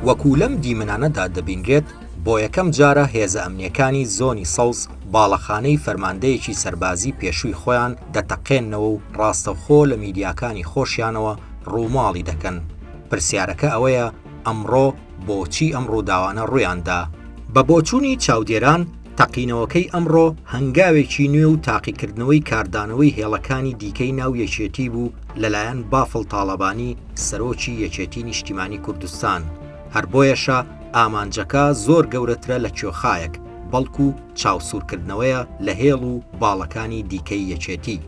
وەکو لەم دیمنانەدا دەبینرێت بۆ یەکەم جارە هێزە ئەمنیەکانی زۆنی سەوز باڵەخانەی فەرماندەیەکی سەربازی پێشووی خۆیان دەتەقێنەوە و ڕاستەوخۆ لە میدیاکانی خۆشیانەوە ڕووماڵی دەکەن پرسیارەکە ئەوەیە ئەمڕۆ بۆچی ئەم ڕووداوانە ڕوویاندا؟ بە بۆچوونی چاودێران، تەقینەوەکەی ئەمڕۆ هەنگاوێکی نوێ و تاقیکردنەوەی کاردانەوەی هێڵەکانی دیکەی ناو یەکێتی بوو لەلایەن بافڵ تاڵەبانی سەرۆکی یەکێتی نیشتیمانی کوردستان، هەر بۆیەشە ئامانجەکە زۆر گەورەترە لە کوێخایەک، بەڵکو چاوسوورکردنەوەیە لە هێڵ و باڵەکانی دیکەی یەکێتی.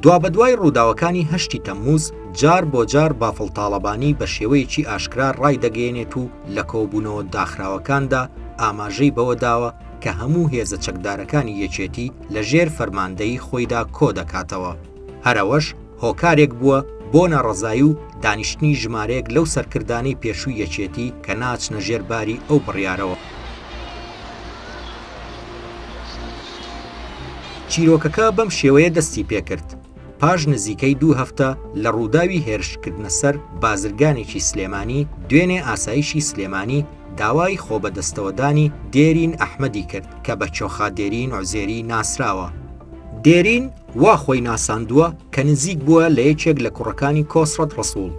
دوابەدوای ڕووداوەکانی هەشتی تەمموز، جار بۆ جار بافڵ تاڵەبانی بە شێوەیەکی ئاشکرا ڕایدەگەیەنێت و لە کۆبوونەوە داخراوەکاندا ئاماژەی بەوە داوە کە هەموو هێزە چەکدارەکانی یەکێتی لە ژێر فەرماندەیی خۆیدا کۆ دەکاتەوە، هەر ئەوەش هۆکارێک بووە بۆ ناڕەزایی و دانیشتنی ژمارەیەک لەو سەرکردانەی پێشووی یەکێتی کە ناچنە ژێر باری ئەو بڕیارەوە. چیرۆکەکە بەم شێوەیە دەستی پێکرد، پاش نزیکەی دوو هەفتە لە ڕووداوی هێرشکردنە سەر بازرگانێکی سلێمانی، دوێنێ ئاسایشی سلێمانی داوای خۆبەدەستەوەدانی دێرین ئەحمەدی کرد کە بە چۆخا دێرین عوزێری ناسراوە. دێرین وا خۆی ناساندووە کە نزیک بووە لە یەکێک لە کوڕەکانی کۆسرەت ڕەسووڵ،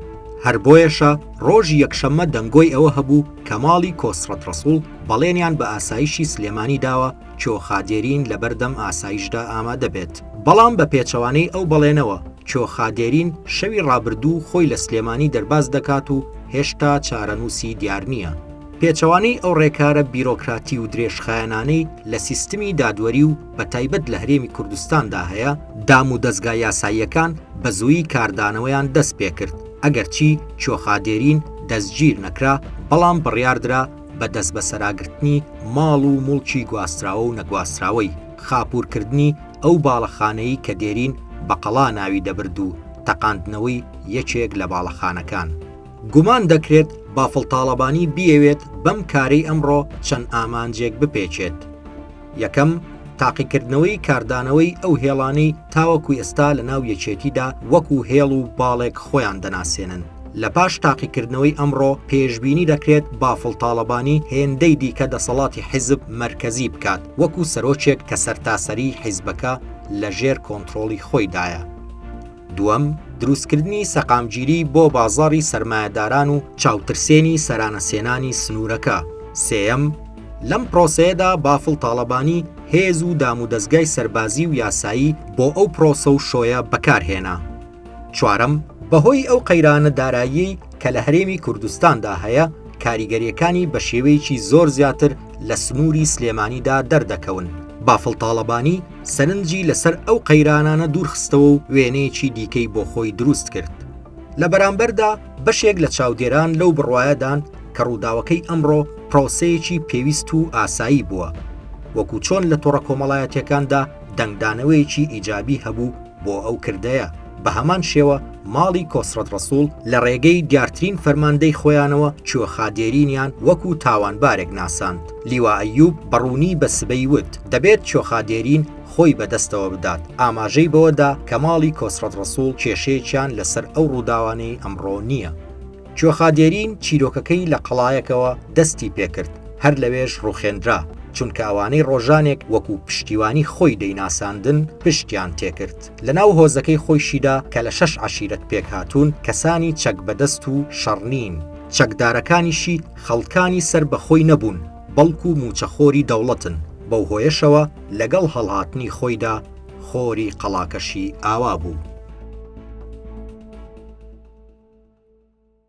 هەر بۆیەشە ڕۆژی یەکشەممە دەنگۆی ئەوە هەبوو، کەماڵی کۆسرەت ڕەسوڵ بەڵێنیان بە ئاسایشی سلێمانی داوە چۆخا دێرین لەبەردەم ئاسایشدا ئامادە بێت، بەڵام بە پێچەوانەی ئەو بەڵێنەوە چۆخا دێرین شەوی ڕابردوو خۆی لە سلێمانی دەرباز دەکات و هێشتا چارەنووسی دیار نییە. پێچەوانەی ئەو ڕێکارە بیرۆکراتی و درێژخایەنانەی لە سیستمی دادوەری و بە تایبەت لە هەرێمی کوردستاندا هەیە، دامودەزگا یاساییەکان بە زوویی کاردانەوەیان دەست پێکرد، ئەگەرچی چۆخا دێرین دەستگیر نەکرا، بەڵام بڕیاردرا بە دەستبەسەراگرتنی ماڵ و موڵکی گواستراوە و نەگواستراوەی، خاپوورکردنی ئەو باڵەخانەی کە دێرین بە قەڵا ناوی دەبرد و تەقاندنەوەی یەکێک لە باڵەخانەکان. گومان دەکرێت بافڵ تاڵەبانی بیەوێت بەم کارەی ئەمڕۆ چەند ئامانجێک بپێکێت. یەکەم، تاقیکردنەوەی کاردانەوەی ئەو هێڵانەی تاوەکو ئێستا لە ناو یەکێتیدا وەکو هێڵ و باڵێک خۆیان دەناسێنن. لە پاش تاقیکردنەوەی ئەمڕۆ پێشبینی دەکرێت بافڵ تاڵەبانی هێندەی دیکە دەسەڵاتی حیزب مەرکەزی بکات وەکو سەرۆکێک کە سەرتاسەریی حیزبەکە لەژێر کۆنترۆڵی خۆیدایە. دووەم، دروستکردنی سەقامگیری بۆ بازاڕی سەرمایەداران و چاوترسێنی سەرانەسێنانی سنوورەکە. سێیەم، لەم پرۆسەیەدا بافڵ تاڵەبانی هێز و دامودەزگای سەربازی و یاسایی بۆ ئەو پرۆسە و شۆیە بەکار هێنا. چوارەم، بەهۆی ئەو قەیرانە داراییەی کە لە هەرێمی کوردستاندا هەیە، کاریگەرییەکانی بە شێوەیەکی زۆر زیاتر لە سنووری سلێمانیدا دەردەکەون. بافڵ تاڵەبانی سەرنجی لەسەر ئەو قەیرانانە دوورخستەوە و وێنەیەکی دیکەی بۆ خۆی دروست کرد. لە بەرامبەردا بەشێک لە چاودێران لەو بڕوایەدان کە ڕووداوەکەی ئەمڕۆ پرۆسەیەکی پێویست و ئاسایی بووە، وەکو چۆن لە تۆڕە کۆمەڵایەتییەکاندا دەنگدانەوەیەکی ئیجابی هەبوو بۆ ئەو کردەیە. بە هەمان شێوە ماڵی کۆسرەت ڕەسوڵ لە ڕێگەی دیارترین فەرماندەی خۆیانەوە چۆخا دێرینیان وەکو تاوانبارێک ناساند لیوا ئەیوب بە ڕوونی بە سبەی وت دەبێت چۆخا دێرین خۆی بە دەستەوە بدات ئاماژەی بەوەدا کە ماڵی کۆسرەت ڕەسوڵ کێشەیەکیان لەسەر ئەو ڕووداوانەی ئەمڕۆ نییە. کوێخا دێرین چیرۆکەکەی لە قەڵایەکەوە دەستی پێکرد، هەر لەوێش ڕوخێندرا، چونکە ئەوانەی ڕۆژانێک وەکو پشتیوانی خۆی دەیناساندن پشتیان تێکرد. لە ناو هۆزەکەی خۆیشیدا کە لە شەش عەشیرەت پێکهاتوون، کەسانی چەک بەدەست و شەڕ نین، چەکدارەکانیشی خەڵکانی سەر بە خۆی نەبوون، بەڵکو مووچەخۆری دەوڵەتن، بەو هۆیەشەوە لەگەڵ هەڵهاتنی خۆیدا خۆری قەڵاکەشی ئاوا بوو.